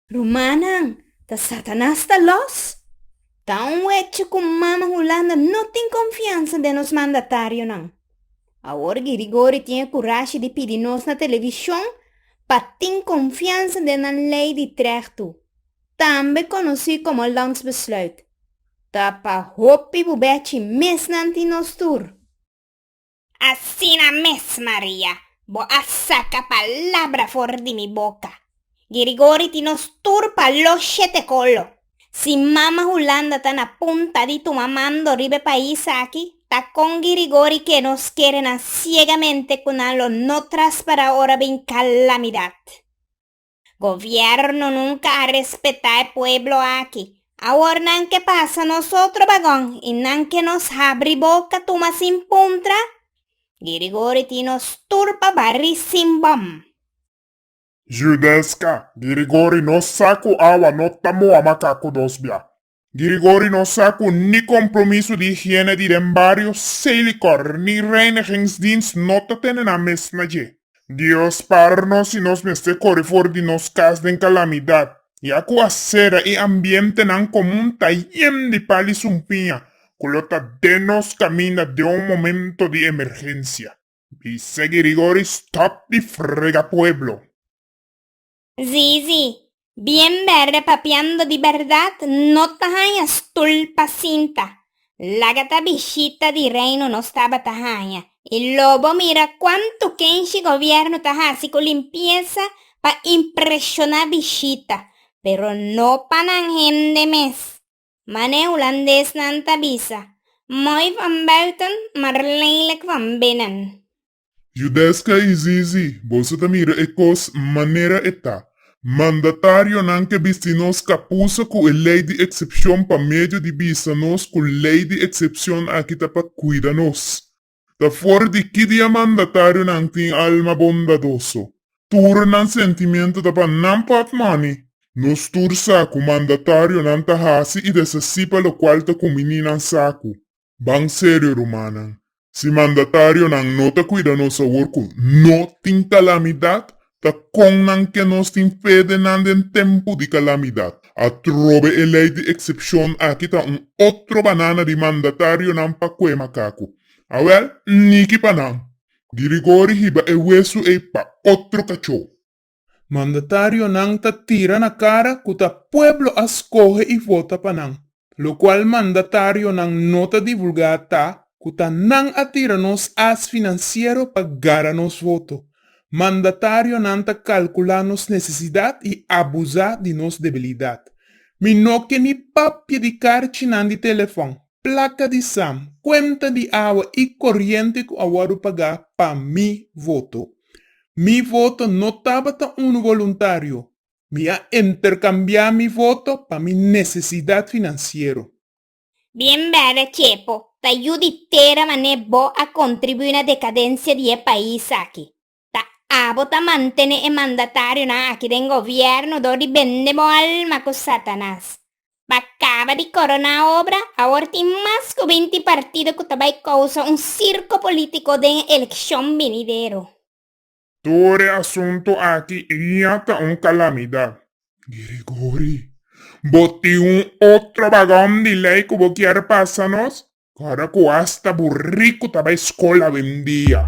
Rumannan, ta Satanas ta los? Ta un hecho cu Mama Hulanda no tin confiansa den nos mandatarionan. Awor Girigory tin e curashi di pidi nos na television pa tin confiansa den nan ley di trechtu, tambe conoci como Landsbesluit. Ta pa hopi bubechi mes nan tin nos tur. Asina mes, Maria, bo a saca palabra for di mi boca. Girigori tin nos tur pa lo shete colo. Si Mama Hulanda ta na punta di tuma mando riba e pais aki, ta con Girigori ke nos kere nan ciegamente cu nan lo no traspara ora bin calamidad. Gobierno nunca a respeta e pueblo aki. Awor nan ke pasa nosotro bagon y nan ke nos habri boca tuma sin puntra? Girigori tin nos tur pa bari sin bom. Judesca, Girigori nos sa cu awa no ta moa macacu dos bia. Grigori no sa ku ni kompromiso di higiene di den bario Seilikor ni reinigingsdienst no ta tene nan mes na dje. Dios para nos si nos mester kore for di nos kas den kalamidat, ya ku asera i ambientenan komun ta yen di pal i sumpiña ku lo ta den nos kaminda den un momento di emergensia. Bisa Grigori stop di frega pueblo. Sí, sí. Bien berde papiando di berdad no ta haña stul pa sinta. Laga ta bishita di Reino nos tabata haña y lo bo mira cuanto kenshi gobierno ta haci cu limpieza pa impresiona bishita, pero no pa nan hende mes. Ma ne hulandesnan ta bisa, Mooi van buiten, maar lelijk van binnen. Judesca y Zizi, boso ta mira e cos manera e ta. Mandatarionan ke bisti nos capusa cu e ley di excepcion pa medio di bisa nos cu ley di excepcion aki ta pa cuida nos. Ta for di ki dia mandatarionan tin alma bondadoso, tur nan sentimiento ta pa nan pap mani. Nos tur sa cu mandatarionan ta haci y deshaci pa locual ta cumini nan sacu. Ban serio rumannan, si mandatarionan no ta cuida nos awor cu no tin calamidad, Ta kon nan ke nos tin fe den nan den tempu di kalamidat? Atrobe e lei di eksepshon aki ta un otro banana di mandatarionan pa kue makaku. Awèl, niki pa nan! Girigori hiba e wesu ei pa otro kachou. Mandatarionan ta tira na kara ku ta pueblo a skohe i vota pa nan. locual mandatarionan no ta divulga ta cu ta nan a tira nos as financiero pa gara nos voto. Mandatarionan ta calcula nos necesidad y abusa di nos debilidad. Mi no ke ni papia di carchinan di telefon, placa di sam, cuenta di awa y coriente cu a wordo paga pa mi voto. Mi voto no tabata un voluntario, Mi a intercambia mi voto pa mi necesidad financiero. Bien bèda Chepo, ta yu di tera man'é bo a contribuí na decadencia di e pais aki. Ta abo ta mantene e mandatarionan aki den gobierno dor di bende bo alma cu Satanas. Pa caba di corona obra, awor tin mas cu binti partido cu ta bay causa un circo politico den e eleccion binidero. Tur e asuntu aki eña ta un kalamidat. Gregory, bo tin un otro bagom di lei ku bo kier pasa nos? Ora ku asta bu riku ta bai skol awendia.